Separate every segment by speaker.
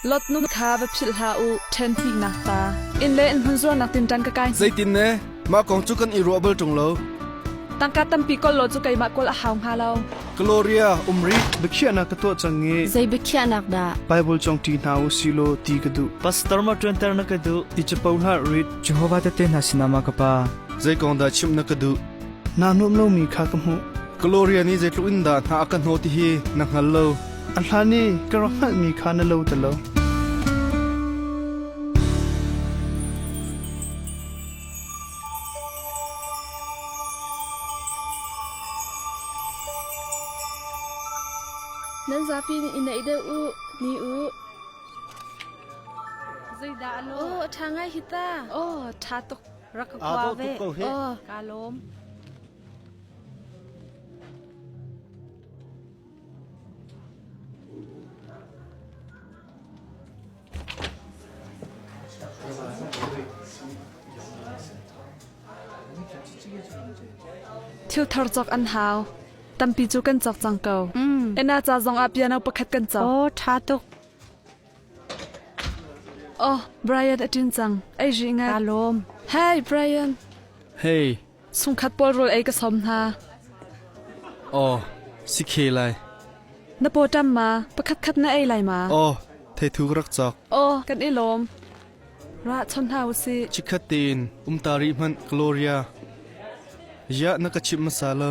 Speaker 1: Lotnum kha va philh hlah u, ṭhen hnihnak pa. Inn le inn hmun zuarnak tinṭan ka kai. Zeitin ne? Mah kong cu kan i ruah bal ṭung lo. Tangka tampi kawl law cu keimah kawl a hau hnga lo. Gloria, um rih. Biakhiahnak ka tuah cang i Zei biakhiahnak dah? Baibal cang ṭi hna u si law ti ka duh. Pastor ma ṭuanter na ka duh? Ti capo hlah rit. Jehovah Tehte Hna sinah mah ka Pa, zei kong dah chimh na ka duh? Naa nuam lomi kha ka hmuh. Gloria nih zeitluk in dah hna a ka hnawh ti hi na hngal lo. A hlan i ka rak hngalhmi kha na lo ti lo. Nan zapi nih i neih deuh u, ni u. Zeidah a lawm? Aw, a ṭha ngai hi ta. Aw, ṭha tuk. Rak ka kua ve. Aw, kaa lawm. Thil thar cawk an hau. Tampi cu kan cawk cang ko. Ena ca zong ah piano pakhat kan cawk. Aw, ṭha tuk. Oh, Brian a ṭin cang. Ai ri ngai. Ka lawm. Hi, Brian. Hey, Sungkhat pawl rawl ei ka sawm hna. Aw, si khe lai. Na pawṭam ma? Pakhatkhat na ei lai ma? Aw, theithu ka rak cawk. Aw, kan i lawm. Ra chon hna u sih. Chikhat tein um ta rih hmanh, Gloria. Ya, na ka chimh hmasa lo.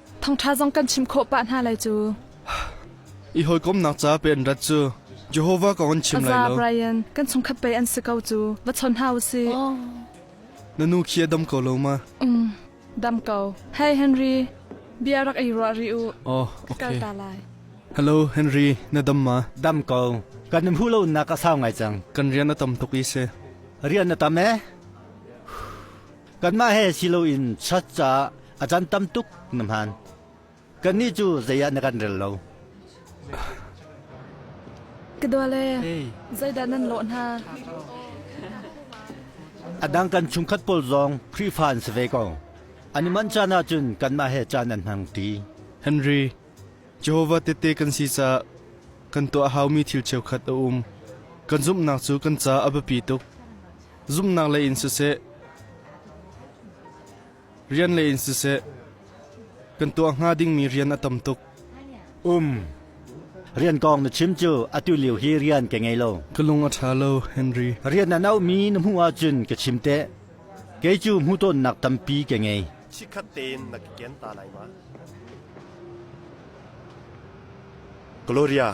Speaker 1: Thawngṭha zong kan chim khawh pah hna lai cu. I hawikomnak ca pe an rat cu Jehovah kong an chim lai lo. Brian, kan chungkhat pei an si ko cu. Va chawn hna u sih. Na nu khi a dam ko lo ma? Um, dam ko. Hey Henry, bia rak i ruah rih u. Oh, okay. Kalta lai. Hello, Henry, na dam ma? Dam ko. Kan um hulonak a sau ngai cang. Kan rian a tam tuk i si. Rian na tam e? Kanmah he si loin church caah a can tam tuk na hmaan. Kannih cu zeiah na kan rel lo. Ka dawle, zeidah nan lawh hna? Adang kan chungkhat pawl zong Khrihfa an si ve ko. An i manh caan ahcun kanmah he caan an hmang ṭi. Henry, Jehovah Tehte kan si caah kan tuah a haumi thil cheukhat a um. Kan zumhnak cu kan caah a biapi tuk. zumhnak lei in siseh, rian lei in siseh, kan tuah hnga dingmi rian a tam tuk. Um. Rian kong na chim cu atu lio hi rian ka ngei lo. Ka lung a ṭha lo, Henry. Rian an auhmi na hmuh ahcun ka chim teh. Kei cu hmuhtonnak tampi ka ngei. chikkhat tein na ka ken ta lai ma? Gloria,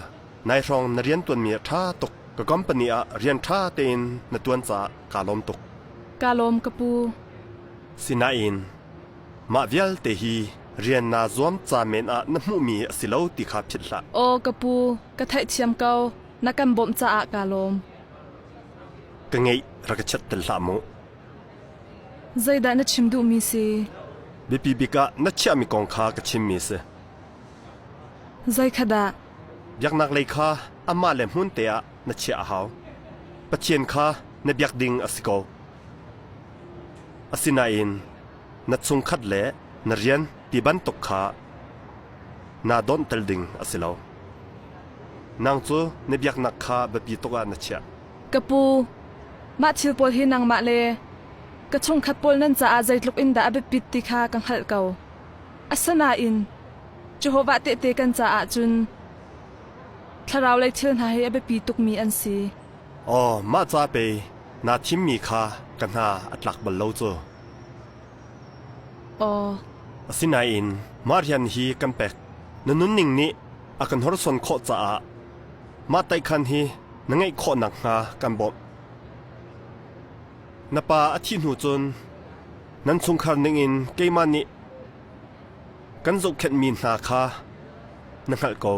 Speaker 1: nai hrawng na rian tuanmi a ṭha tuk. Ka company ah rian ṭha tein na tuan caah kaa lawm tuk. Kaa lawm ka pu. Sinain mah vialte hi rian naa zuam ca men ah na hmuhmi a si lo ti kha philh hlah. Aw ka pu, ka theihthiam ko. Na kan bawmh caah kaa lawm. Ka ngeih, rak ka chat tel hlah mu. Zeidah na chim duhmi si? Biapi bik ah na chiahmi kong kha ka chimmi a si. Zeikhat ah? Biaknaklei kha amah le hmunte ah na chiah a hau. Pathian kha na biak ding a si ko. Asinain na chungkhat le na rian ti bantuk kha naa dawnhtel ding a si lo. Nang cu na biaknak kha biapi tuk ah na chiah. Ka pu, mah thil pawl hi nangmah le ka chungkhat pawl nan caah zeitluk in dah a biapit ti kha ka hngalh ko. Asinain Jehovah Tehte kan caah cun thlaraulei thil hna hi a biapi tukmi an si. Aw, mah ca pei naa thimmi kha ka hna a tlak bal lo cu. Aw. Asinain mah rian hi kan pek. Na nunning nih a kan horson khawh caah mah taikhan hi na ngeih khawh nakhnga kan bawmh. Na pa a thih hnu cun nan chungkhar ningin keimah nih kan zohkhenhmi hna kha na hngalh ko.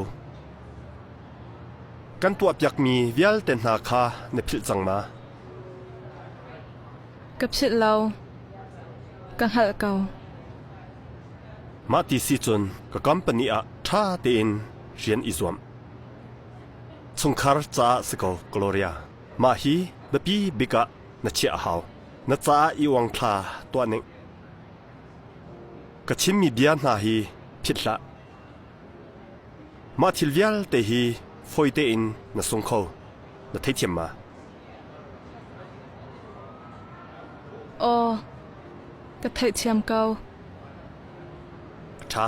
Speaker 1: Kan tuahpiakmi vialte hna kha na philh cang ma? Ka philh lo. Ka hngalh ko. Mah ti si cun ka company ah ṭha tein rian i zuam. Chungkhar caah si ko Gloria. Mah hi biapi bik ah na chiah a hau. Na caah i uang thla tuah ning. Ka chimmi bia hna hi phit hlah. Mah thil vialte hi fawi tein na sung kho. Na theithiam ma? Aw, ka theithiam ko. Ṭha.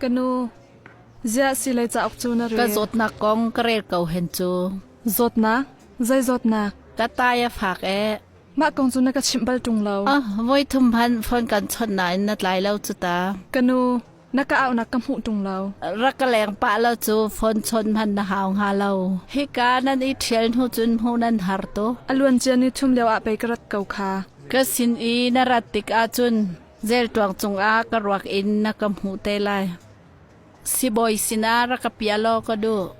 Speaker 1: Kanu ziah silei cauk cu na rel? Ka zawtnak kong ka rel ko hen cu. Zawtnak? Zei zawtnak? Ka tai a fak ee. Mah kong cu na ka chimh bal ṭung lo. Ah, voi thum hmanh phone kan chawnh nain na tlai lo cu ta. Kanu, na ka aunak ka hmuh ṭung lo. Rak ka leng pah lo cu phone chawnh hmanh na hau hnga lo. Hika nan i ṭhial hnu cun hmuh nan har tuk. A luancia ni thum lioah pei ka rat ko kha. Ka sin i na rat tik ahcun Zelṭuang cungah ka ruak in na ka hmuh te lai. Sibawi sinah rak ka piah law ka duh.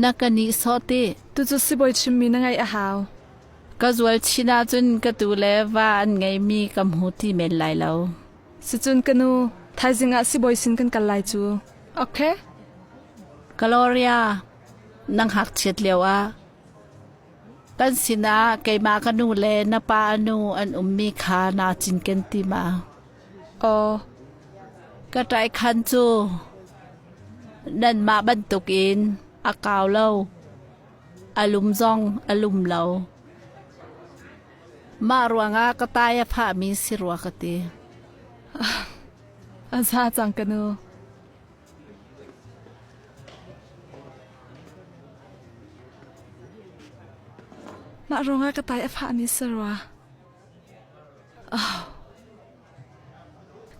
Speaker 1: Na ka nihsawh ti. Tucu sibawi chimmi na ngaih a hau. Ka zual chin ahcun ka tu le va an ngeimi ka hmu ti men lai lo. Sicun ka nu, thaizing ah sibawi sin kan kal lai cu. Ok. Gloria, nang hngakchiat lioah Kan sinah keimah ka nu le na pa nu an ummi kha naa cinken ti ma? Aw, ka ṭaikhan cu nanmah bantukin a kau lo, a lum zong a lum lo. Mah ruangah ka tai a fahmi si rua ka ti. A za cang ka nu. Mah ruangah ka tai a fahmi si rua. Oh.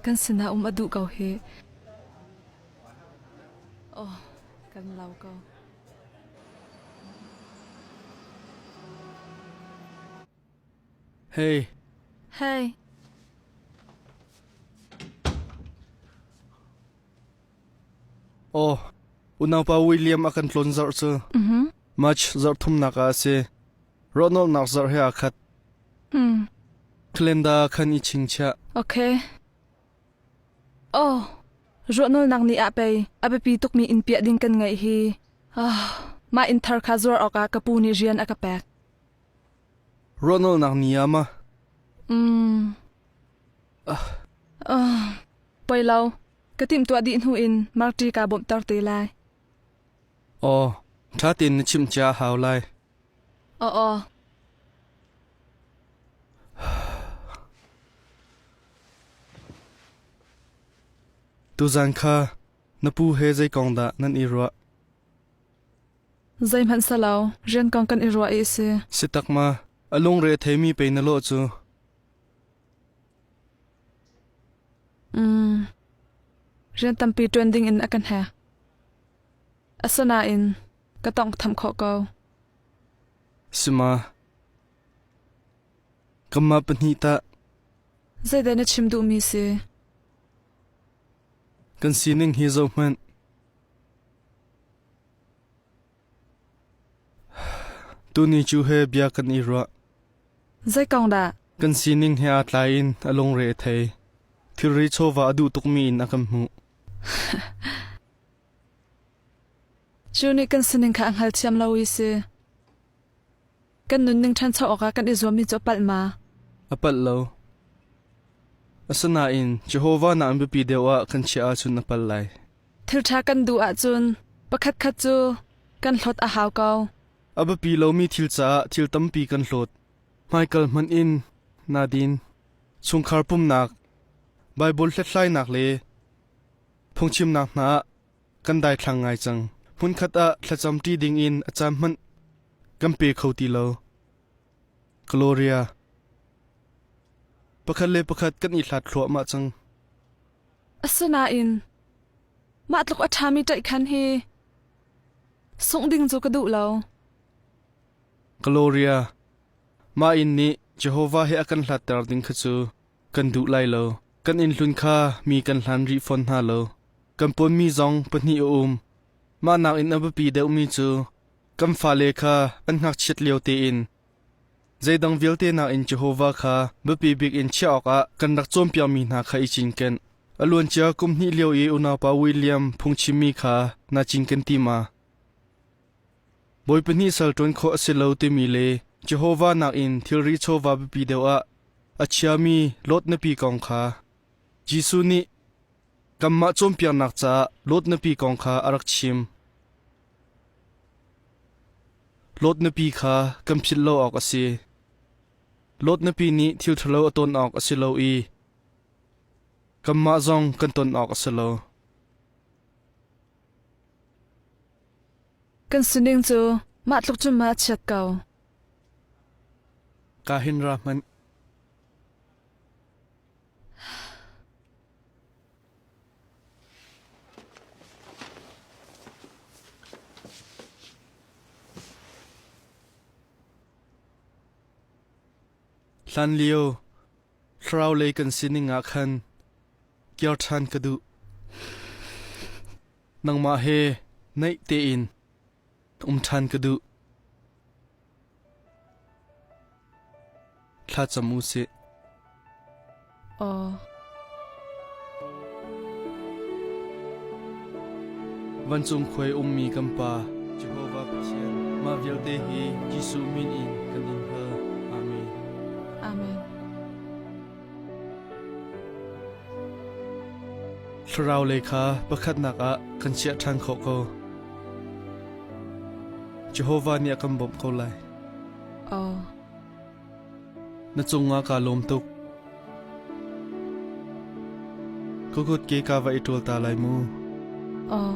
Speaker 1: Kan sinah um a duh ko hi. Oh, kan lau ko. Hei! Hei! Aw, unaupa William a kan tlun zarh cu March zarh thumnak ah a si. Rawhnolhnak zarh he aa khat. Calendar khan i chingchiah. Ok. Oh, rawhnolnak ni ah pei a biapi tukmi in piah ding kan ngaih hi. Oh, mah in thar kha zuar awkah ka pu nih rian a ka pek. Ruahnolhnak ni ah maw? Um. Uh, poi lo, ka timtuah dih hnu in Marti kaa bawmhter te lai. Aw, ṭha tein na chimh cia hau lai. Aw, aw. Tuzan kha na pu he zei kong dah nan i ruah? Zeihmanhsehlaw rian kong kan i ruah i a si. Si tak ma? A lungre theimi pei na lawh cu. Mm. Rian tampi ṭuan dingin a kan he. Asinain ka tawng tham khawh ko. Sima. Kamma pahnih ta. Zeidah na chim duhmi si? Kan sining hi zo hmanh. Tuni cu he bia kan i ruah. Zei kong dah? Kan sining he aa tlaiin a lungre a thei. Thilri chawva a duh tukmi in a kan hmuh. Cu nih kan sining kha a hngalthiam lo i si. Kan nunning ṭhancho awkah kan i zuammi cu a palh ma? A palh lo. Asinain Jehovah na an biapi deuh ah kan chiah ahcun na pal lai. Thilṭha kan duh ahcun pakhatkhat cu kan hlawt a hau ko. A biapi lomi thil caah thil tampi kan hlawt. Hmaikal hmanh in naa din. Chungkhar pumnak, Baibal hlathlainak le phungchimnak hna ah kan daithlang ngai cang. Hmunkhat ah thlacam ṭi dingin a caan hmanh kan pe kho ti lo. Gloria Pakhat le pakhat kan i hlat thluahmah cang. Asinain mah tluk a ṭhami ṭaih khan hi sungh ding cu ka duh lo. Gloria Mah in nih Jehovah he a kan hlatter ding kha cu Kan duh lai lo. Kan innhlun kha mi kan hlan rih fawn hna lo. Kan pawnmi zong pahnih a um. Mah nakin a biapi deuhmi cu kan fale kha an ngakchiat lio tein zeidang vialte nakin Jehovah kha biapi bik in chiah awkah kan rak cawnpiakmi hna kha i cinken. A luancia kum hnih lio i unaupa William phungchimmi kha naa cinken ti ma? Bawi pahnih sal ṭuan khawh a si lo timi le Jehovah nakin thilri chawva biapi deuh ah a chiami Lot nupi kong kha Jesuh nih kanmah cawnpiaknak caah Lot nupi kong kha a rak chim. Lot nupi kha kan philh lo awk a si. Lot nupi nih thil ṭhalo a ton awk a si lo i kanmah zong kan ton awk a si lo. Kan sining cu mah tluk cun mah a chiat ko. Ka hin ra hmanh. Hlan lio thlarau lei kan sining ah khan kir ṭhan ka duh. nangmah he naih tein um ṭhan ka duh. Thlacam u sih. Aw. Vancung khuai ummi kan pa Jehovah Pathian mah vialte hi Jesuh min in kan in hal. Amen. Amen. Thlaraulei kha pakhatnak ah kan chiah ṭhan khawh ko. Jehovah nih a kan bawmh ko lai. Oh. Na cungah kaa lawm tuk. Ka kut ke ka va i ṭul ta lai mu. Oh.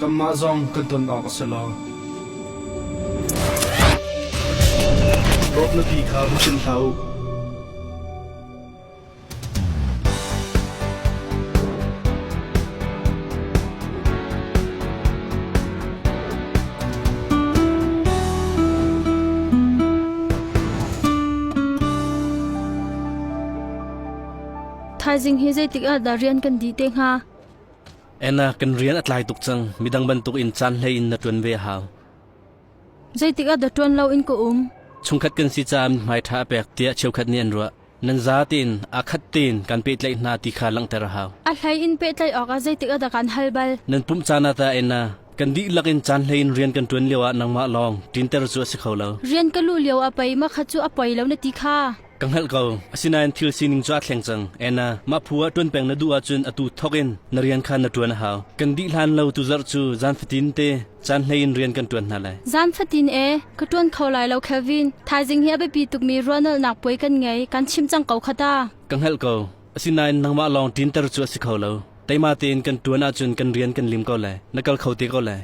Speaker 1: Kanmah zong kan ton awk a si lo. Dawt nupi kha va sim hlah u. Thaizing hi zeitik ah dah rian kan di te hnga? Anna kan rian a tlai tuk cang. Midang bantukin caan hlei in na ṭuan ve a hau. Zeitikah dah ṭuan loin ka um? Chungkhat kan si caah hmai ṭha a pek tiah cheukhat nih an ruah. Nan za tein aa khat tein kan pehtlaih hna ti kha langhter a hau. A hlei in pehtlaih awkah zeitikah dah kaan hal bal? Nan pumh caan ah ta Anna, kan dihlak in caan hlei in rian kan ṭuan lioah nangmah lawng ṭinter cu a si kho lo. Rian ka luh lioah pei makhat cu a poi lo na ti kha. Ka hngalh ko, asinain thil sining cu aa thleng cang. Anna, mah phu ah ṭuan peng na duh ahcun atu thawk in na rian kha na ṭuan a hau. Kan dih hlan lo tu zarh cu zaan fatin te caan hlei in rian kan ṭuan hna lai. Zaan fatin ee, ka ṭuan kho lai lo Kelvin. Thaizing hi a biapi tukmi ruahnolhnak puai kan ngei, kan chimh cang ko kha ta. Ka hngalh ko, asinain nangmah lawng ṭinter cu a si kho lo. Teima tein kan ṭuan ahcun kan rian kan lim ko lai, na kal kho te ko lai.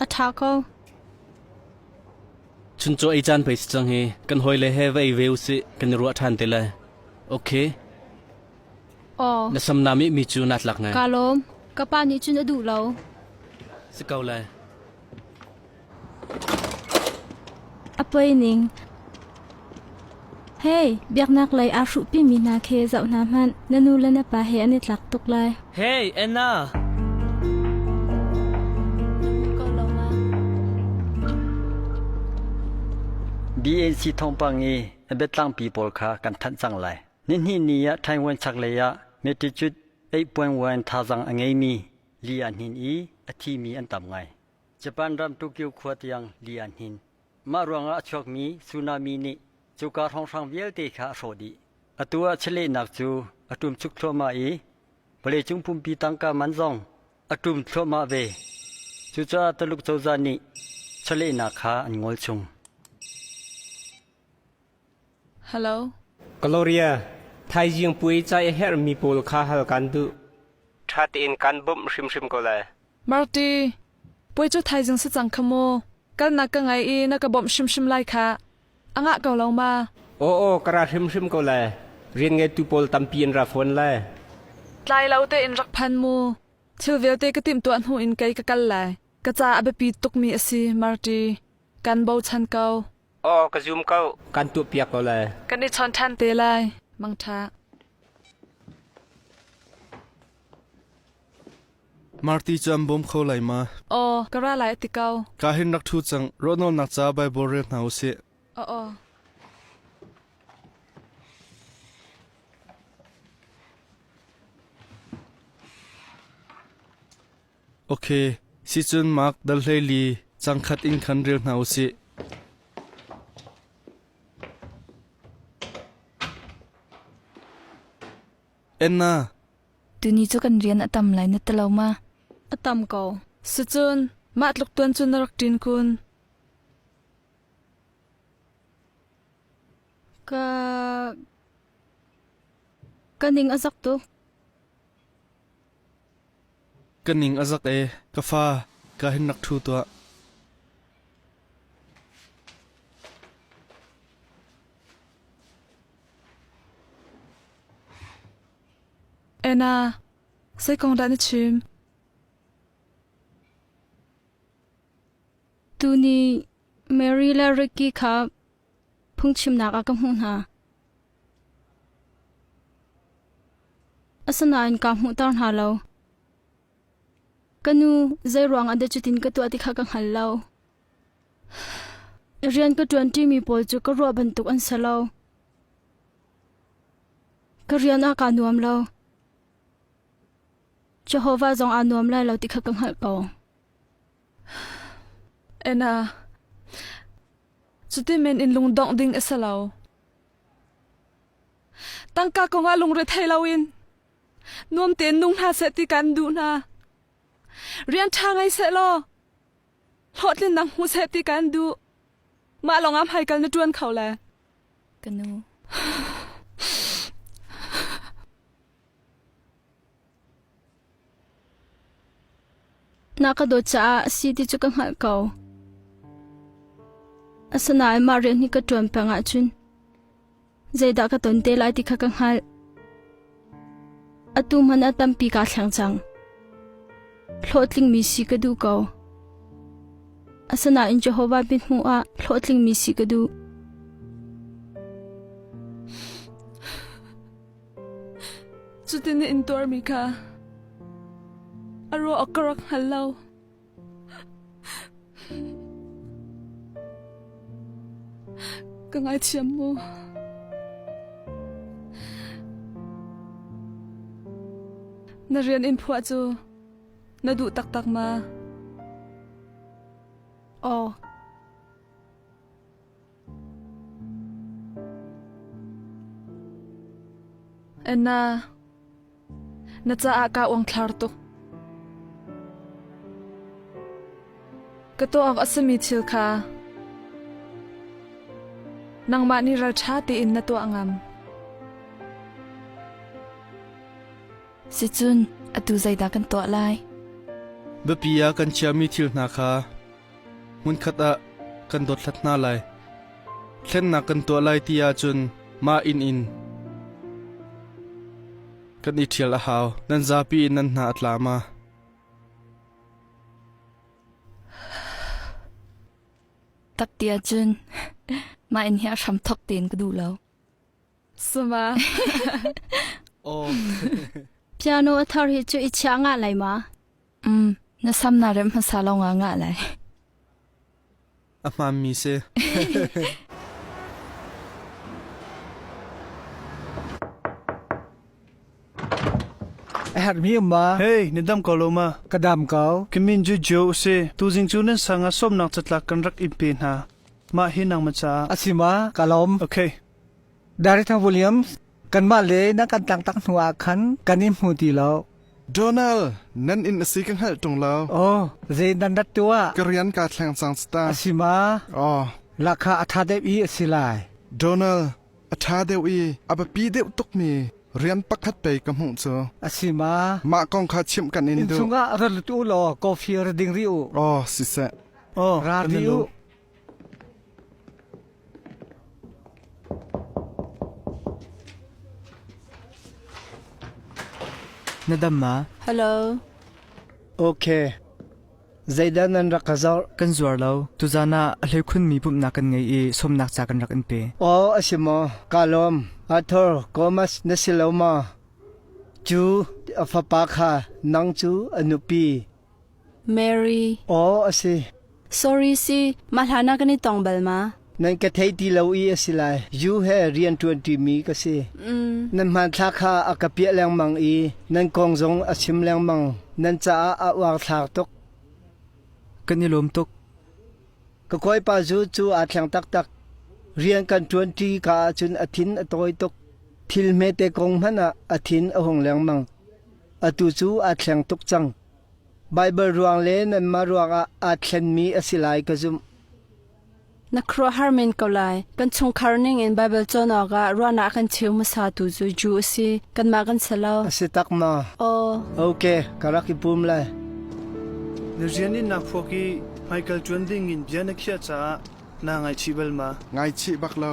Speaker 1: A ṭha ko. Chuncaw ei caan pei si cang hi, kan hawile he va ei ve u sih, kan i ruah ṭhan te lai. Ok. Aw. Na samnam i mi cu naa tlak ngai. Kaa lawm. Ka pa nih cun a duh lo. Si ko lai. A poi ning. Hei, biaknak lei aa hruhpimi hna khi zoh hna hmanh, na nu le na pa he an i tlak tuk lai. Hei, Anna! BAC thawngpang i a biatlangpi pawl kha kan thanh cang lai. Nihnih ni ah Taiwan chaklei ah Mattitude 8.1 thazang a ngeimi li-a hnin i a thimi an tam ngai. Japan ram Tokyo khua tiang li-a hnin Mah ruangah a chuakmi tsunami nih cuka hrawnghrang vialte kha a hrawh dih. Atu ah chiahlehnak cu a ṭum chuk thluahmah i vawleicung pumpi tangka man zong a ṭum thluahmah ve. Cucaah Tuluk cozah nih chiahlehnak kha an ngol chung. Gloria, thaizing puai ca i herhmi pawl kha hal kaan duh. Ṭha tein kaan bawmh hrimhrim ko lai. Marti, puai cu thaizing si cang kha maw? Kalnak ka ngei i na ka bawmh hrimhrim lai khah. A ngah ko lo ma? Aw, aw, ka ra hrimhrim ko lai. Rianngeitu pawl tampi an ra fawn lai. Tlai lo tein rak phan mu. Thil vialte ka timhtuah hnu in kei ka kal lai. Ka ca a biapi tukmi a si, Marti. Kan bochan ko. Aw, ka zum ko. Kan tuahpiak ko lai. Kan i chawn ṭhan te lai. Mangṭha. Marti cam bawm kho lai ma? Aw, ka ra lai ti ko. Ka hin rak thu cang, rawtnawl nak ca Bible rel hna u sih. O o. Ok, sicun Mark dal hleili cangkhat in khan ril hna u sih. Enna. Tuni cu kan rian a tam lai na ta lo ma? A tam ko. Sicun mah tluk tuan cu na rak ṭin kun. Ka ka ning a zak tuk. Ka ning a zak ee, ka fa, ka hin rak ṭhu tuah. Anna, zeikong dah na chim? Tuni Mary le Ricky kha Phungchimnak ah ka hmuh hna. Asinain kaa hmuhter hna lo. Ka nu zeiruang ah dah cutin ka tuah ti kha ka hngal lo. Rian ka ṭuanṭimi pawl cu ka ruah bantuk an si lo. Ka rian ah kaa nuam lo. Jehovah zong aa nuam lai lo ti kha ka hngalh ko. Anna, cuti men in lungdongh ding a si lo. Tangka kongah lungre thei loin nuam tein nung hna seh ti kan duh hna. Rian ṭha ngei seh law hlawhtlin nang hmu seh ti kan duh. Mah lawngah hmaikal na ṭuan kho le? Ka nu. Na ka dawt caah a si ti cu ka hngalh ko. Asinain mah rian hi ka ṭuan peng ahcun zeidah ka ton te lai ti kha ka hngalh. Atu hmanh a tampi kaa thleng cang. Hlawhtlingmi si ka duh ko. Asinain Jehovah biak hnuah hlawhtlingmi si ka duh. Cutin na intuarmi kha a ruah awk ka rak hngal lo. Ka ngaithiam mu. Na rian in phuah cu na duh taktak ma? Aw, Anna, na caah ka uangthlar tuk. Ka tuak a sami thil kha nangmah nih ralṭha tein na tuah ngam. Sicun atu zeidah kan tuah lai? Biapi ah kan chiami thil hna kha Hmunkhat ah kan dothlat hna lai. Thlennak kan tuah lai ti ahcun mah inn in kan i ṭhial a hau. Nan zapi in nan hna a tla ma? Tak ti ahcun mah inn hi a hram thok tein ka duh lo. Suma. Aw. Piano a thar hi cu i chia nga lai ma? Mm, na sam na rem hmasa lo nga nga lai. A hmaan mi si. A har mi ma. Hey, ni dam ko lo ma. Ka dam ko. Kamin ju jo si. Tu jing chu nan sang a som nak chatlak kan rak im pe hna. Ma hi nang ma cha. A si ma, ka lom. Okay. Director Williams, kanmah le nan kan tlangtak hnu ah khan kan in hmu ti lo. Donald, nan inn a si ka hngalh ṭung lo. Aw, zei nan rat tuah? Ka rian kaa thleng cang cita. A si ma? Aw, lakha a ṭha deuh i a si lai. Donald, a ṭha deuh i a biapi deuh tukmi rian pakhat pei ka hmuh cu. A si ma? Mah kong kha chimh kan in duh. Inn chungah ra lut u law coffee ra ding rih u. Aw, siseh. Aw, ra rih u. Na dam ma? Hello. Okay. Zeidah nan rak ka zarh? Kan zuar lo. Tuzan ah a hleikhun mi pumhnak kan ngei i sawmnak ca kan rak in pe. Aw, a si maw? Ka lawm. Arthur, Gomas na si lo maw? Cu, a fapa kha nang cu a nupi. Mary, Aw a si. Sorry si, mah hlan ah kan i tong bal ma? Nan ka theih ti lo i a si lai. U he rian ṭuanṭi mi ka si. Nan hmanthlak kha a ka piah lengmang i nan kong zong a chim lengmang. Nan caah a uangthlak tuk. Kan i lawm tuk. Ka kawipa zu cu aa thleng taktak. Rian kan ṭuanṭi ka ahcun a thin a tawi tuk. Thil hmete kong hmanh ah a thin a hung lengmang. Atu cu aa thleng tuk cang. Baibal ruang le nanmah ruangah aa thlenmi a si lai ka zumh. Na khuaruahhar men ko lai. Kan chungkhar ningin Baibal cawn awkah ruahnak kan cheu hmasa tu cu Jew a si. Kanmah kan si lo. A si tak ma? Aw. Ok, ka rak i pum lai. Na rian in naa phuak i hmaikal ṭuan dingin bia na khiah caah naa ngaichih bal ma? Ngaichih bak lo.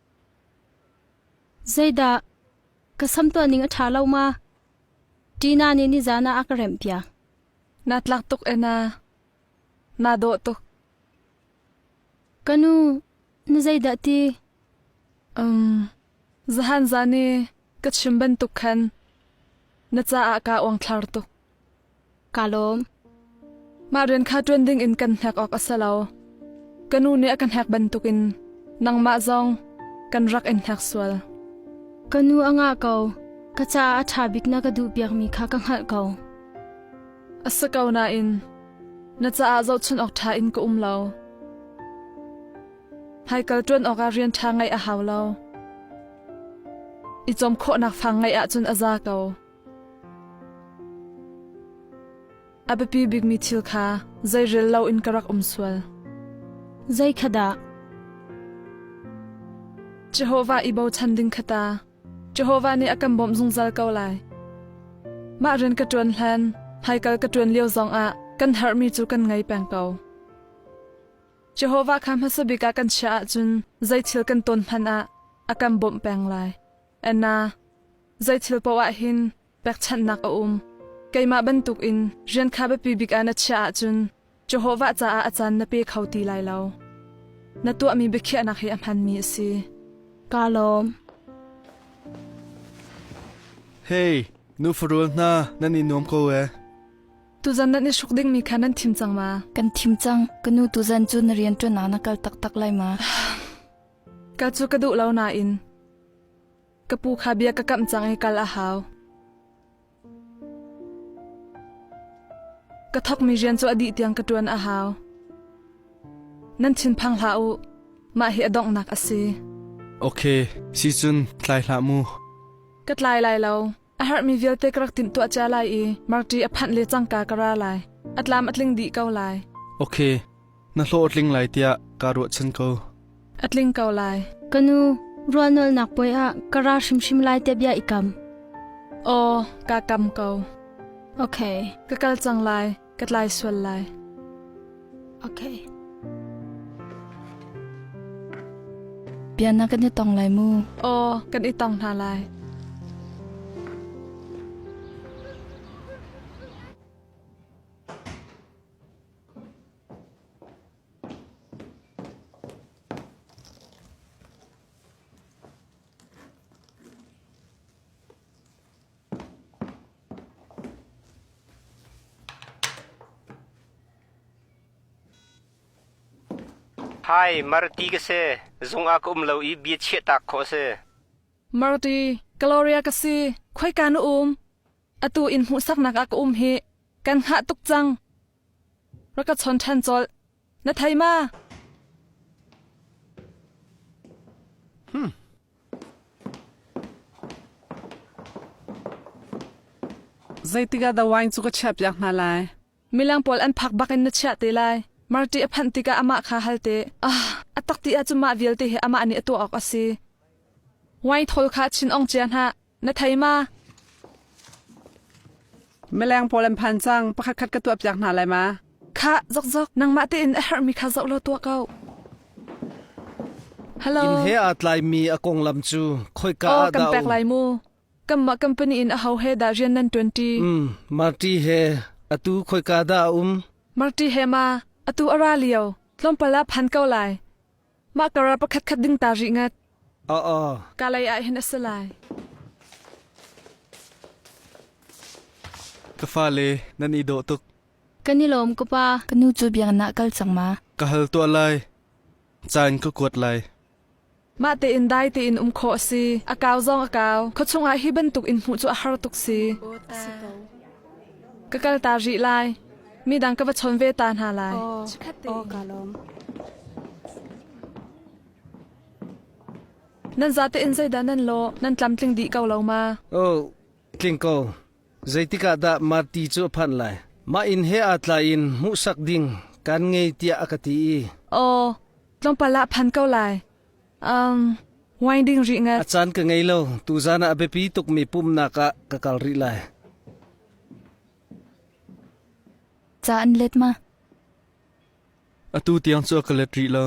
Speaker 1: Zeidah ka sam tuahning a ṭha lo ma? Tina nih nizaan ah a ka remhpiak. Na tlak tuk e na. Na dawh tuk. Ka nu, na zeidah ti? Um, zahan zani ka chim bantuk khan na caah ka uangthlar tuk. Kaa lawm. Mah rian kha ṭuan dingin kan hnek awk a si lo. Ka nu nih a ka hnek bantukin nangmah zong kan rak in hnek sual. Ka nu a ngah ko. Ka caah a ṭha bik na ka duhpiakmi kha ka hngalh ko. A si ko nain na caah zohchunh awk ṭha in ka um lo. Hmaikal ṭuan awkah rian ṭha ngeih a hau lo. I cawm khawhnak fang ngeih ahcun a za ko. A biapi bikmi thil kha zei rel loin ka rak um sual. Zeikhat dah? Jehovah i bochan ding khata Jehovah nih a kan bawmh zungzal ko lai. Mah rian ka ṭuan hlan, hmaikal ka ṭuan lio zongah kan herhmi cu kan ngei peng ko. Jehovah kha hmasa bik ah kan chiah ahcun zei thil kan ton hmanh ah a kan bawmh peng lai. Anna Zei thil paoh ah hin pekchanhnak a um. Keimah bantukin rian kha biapi bik ah na chiah ahcun Jehovah caah a caan na pe kho ti lai lo. Na tuahmi biakhiahnak hi a hmanmi a si. Kaa lawm. Hei, nu farul hna nan i nuam ko e. Tuzan nan i hruk dingmi kha nan thim cang ma? Kan thim cang. Ka nu tuzan cu na rian ṭuan ah na kal taktak lai ma? Ka cu ka duh lo nain ka pu kha bia ka kamh cang i kal a hau. Ka thawkmi rian cu a dih tiang ka ṭuan a hau. Nan thin phang hlah u, mah hi a donghnak a si. Ok, si cun tlai hlah mu. Ka tlai lai lo, A herhmi vialte ka rak timh tuah cia lai i marṭi a phanh le cangka ka ra lai. A tlam a tling dih ko lai. Ok, na hlawh a tling lai tiah kaa ruahchan ko. A tling ko lai. Ka nu, rualnolnak puai ah ka ra hrimhrim lai te bia i kam. Aw, ka kam ko. Ok, ka kal cang lai. ka tlai sual lai. Okay. Bia na kan i tong lai mu. Aw, kan i tong hna lai. Marti, Gloria ka si, khoika na um? Atu in hmuhsaknak ah ka um hi, kan hngah tuk cang. Rak ka chawn ṭhan colh. Na thei ma? Zeitikah the wine cu ka chiahpiak hna lai? Milang pawl an phak bakin na chiah te lai. Marti a phanh tikah amah kha hal te. Ah, a tak ti ahcun mah vialte hi amah nih a tuah awk a si. Wine thawl kha chin ong cia hnah. Na thei ma? Mileng pawl an phan cang. Pakhat khat ka tuah piak hna lai ma? Kha, zokzok, nangmah tein a herhmi kha zoh law tuah ko. Hello. Inn he aa tlaimi a konglam cu khoika oh, ah dah kan pek lai mu. Kanmah company in a ho he dah rian nan ṭuanṭi? Mm, Marti he atu khoika dah a um? Marti he ma, atu a ra lio, tlawmpal ah phan ko lai. Mah kar ah pakhatkhat ding ta rih ngat. Aa. Ka lei ah hin a si lai. Ka fale nan i dawh tuk. Kan i lawm ka pa, ka nu cu biaknak ah kal cang ma. Ka hal tuah lai. Caan ka kuat lai. Mah tein dai tein um khawh a si. A kau zong a kau. Khawchung ah hi bantuk in hmuh cu a har tuk si. Ka kal ta rih lai. Midang ka va chon ve ta hna lai. Aw kaa lawm. Nan zate in zeidah nan law nan tlamtling dih ko lo ma? Oh, tling ko. Zeitikah dah Marti cu a phanh lai? Mah inn he aa tlaiin hmuhsak ding kan ngei tiah a ka ti i. Aw, tlawmpal ah phan ko lai. Wine ding rih ngat. A caan ka ngei lo. Tuzan ah a biapi tukmi pumnak ah ka kal rih lai. Ca an let ma? Atu tiang cu ka let rih lo.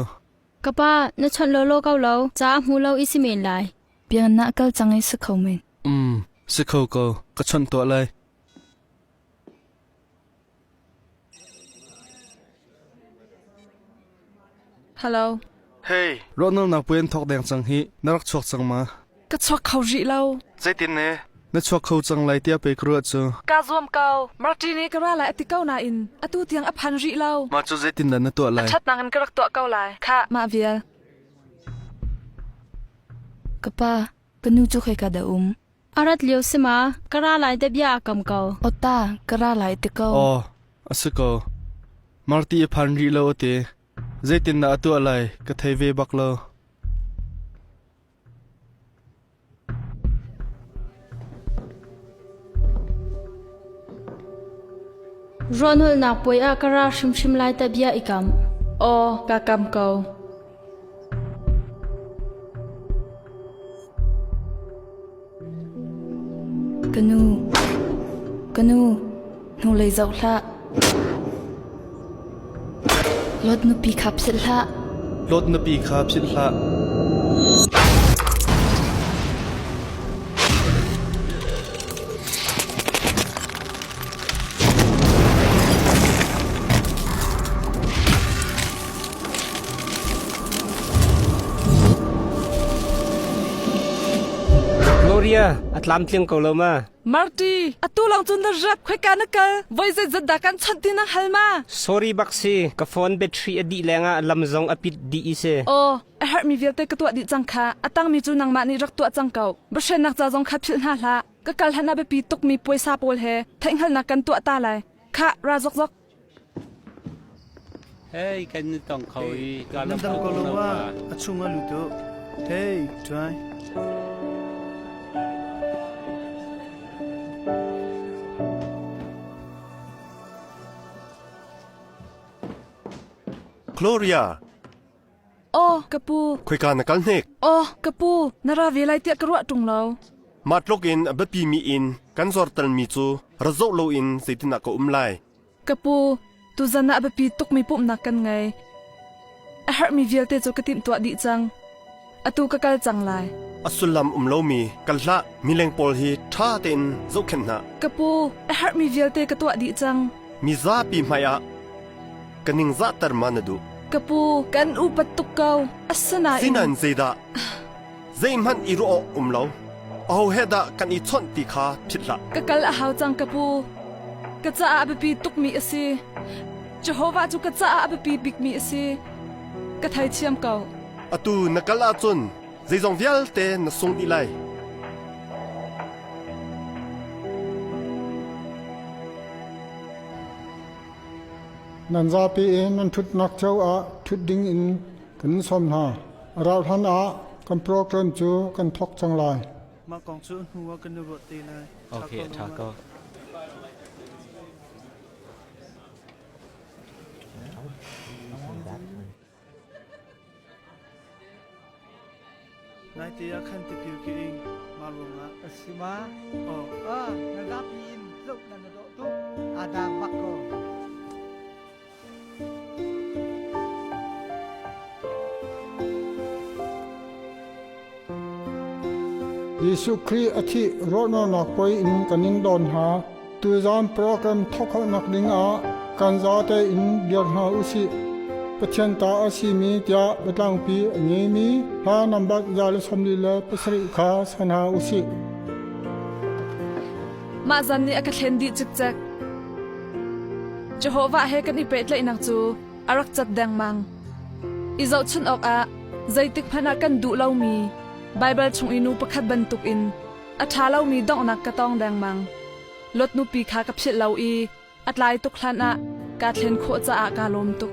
Speaker 1: Ka pa, na chawnh lo lo kau lo. Ca a hmu lo i si men lai. Biang na kal cang i si kho men. Mm, si kho ko. Ka chawnh tuah lai. Hei! Ruahnolhnak puai an thawk deng cang hi na rak chuak cang ma? Ka chuak kho rih lo. Zeitin ne? Na chuak kho cang lai tiah pei ka ruah cu. Ka zuam ko. Martini ka ra lai a ti ko nain atu tiang a phan rih lo. Mah cu zeitin dah na tuah lai? Ṭhat nakin ka rak tuah ko lai. Kha. Mah vial. Ka pa, ka nu cu khoi ka da um. A rat lio si ma, ka ra lai deh bia a kam ko. Awta, ka ra lai te ko. Aw, a si ko. Marti a phan rih lo a ti. Zeitin dah a tuah lai ka thei ve bak lo. Ronul nak puai a ka ra hrimhrim lai ta bia i kam. Aw, ka kam ko. Ka nu, hnulei zoh hlah. Load nupi kha philh hlah. Load nupi kha philh hlah. Gloria a tlamtling ko lo ma. Marty, atu lang cun na rap khoika na kal? Voi zet zat dah kan chawt din a hal ma? Sorry bak si, ka phone battery a dih leng ah lam zong a pit dih i se. O, a harh mi vialte ka tuah dih cang kha. A tang mi cu nangmah nih rak tuah cang kau. Bashen nak ca zong kha philh hna hlah. Ka kal hlan a biapi tuk mi puaisa pawl he, theihnghalnak kan tuah ta lai. Kha, ra zok zok. Hei kan na tong kho i ka lam tuk ko lo wa a chung a lut Hey try Gloria Aw, ka pu. Khoika na kal hnek? Aw, ka pu, na ra ve lai tiah ka ruah ṭung lo. Mah tluk in a biapi mi in kan zortalmi cu ra zoh loin zeitindah ka um lai? Ka pu, tuzan ah a biapi tukmi pumhnak kan ngei. A herhmi vialte cu ka timhtuah dih cang. Atu ka kal cang lai. A sullam um lomi kan hlah mileng pawl hi ṭha tein zohkhenh hna. Ka pu, a herhmi vialte ka tuah dih cang. Mi zapi hmaiah ka ningzahter ma na duh? Ka pu, kan upat tuk ko. Asinain Sinan zeidah? Zeihmanh i ruah awk um lo. Aho he dah kan i chawnh ti kha phit hlah. Ka kal a hau cang ka pu. Ka caah a biapi tukmi a si. Jehovah cu ka caah a biapi bikmi a si. Ka thei thiam ko. Atu na kal ahcun zeizong vialte na sung dih lai. Nan zapi in nan ṭhutnak cio ah ṭhut ding in kan in sawm hna. A rauh hlanah kan program cu kan thawk cang lai. Mah kong cu hnuah kan i ruah te lai. Okay, ṭha ko. that one. Naite ah khan tipil ka ing. Mah ruangah ka si ma? Oh. Ah, na zapi in zoh na na dawh tuk. Adam bak ko. Jesuh Khrih a thih rawhralnak puai in kan in dawn hna. Tuzan program thawkhalhnak dingah kan zate in dir hna u sih. Pathian ta a simi tiah biatlangpi a ngeimi hla nambat za le sawmli le pasarih kha san hna u sih. Mah zan nih a ka thlen dih cikcek. Jehovah he kan i pehtlaihnak cu a rak cat dengmang. I zohchunh awkah zeitik hmanh ah kan duh lomi Baibal chung i nu pakhat bantukin a ṭha lomi donghnak ka tong dengmang. Lot nupi kha ka philh lo i a tlai tuk hlanah kaa thlen khawh caah kaa lawm tuk.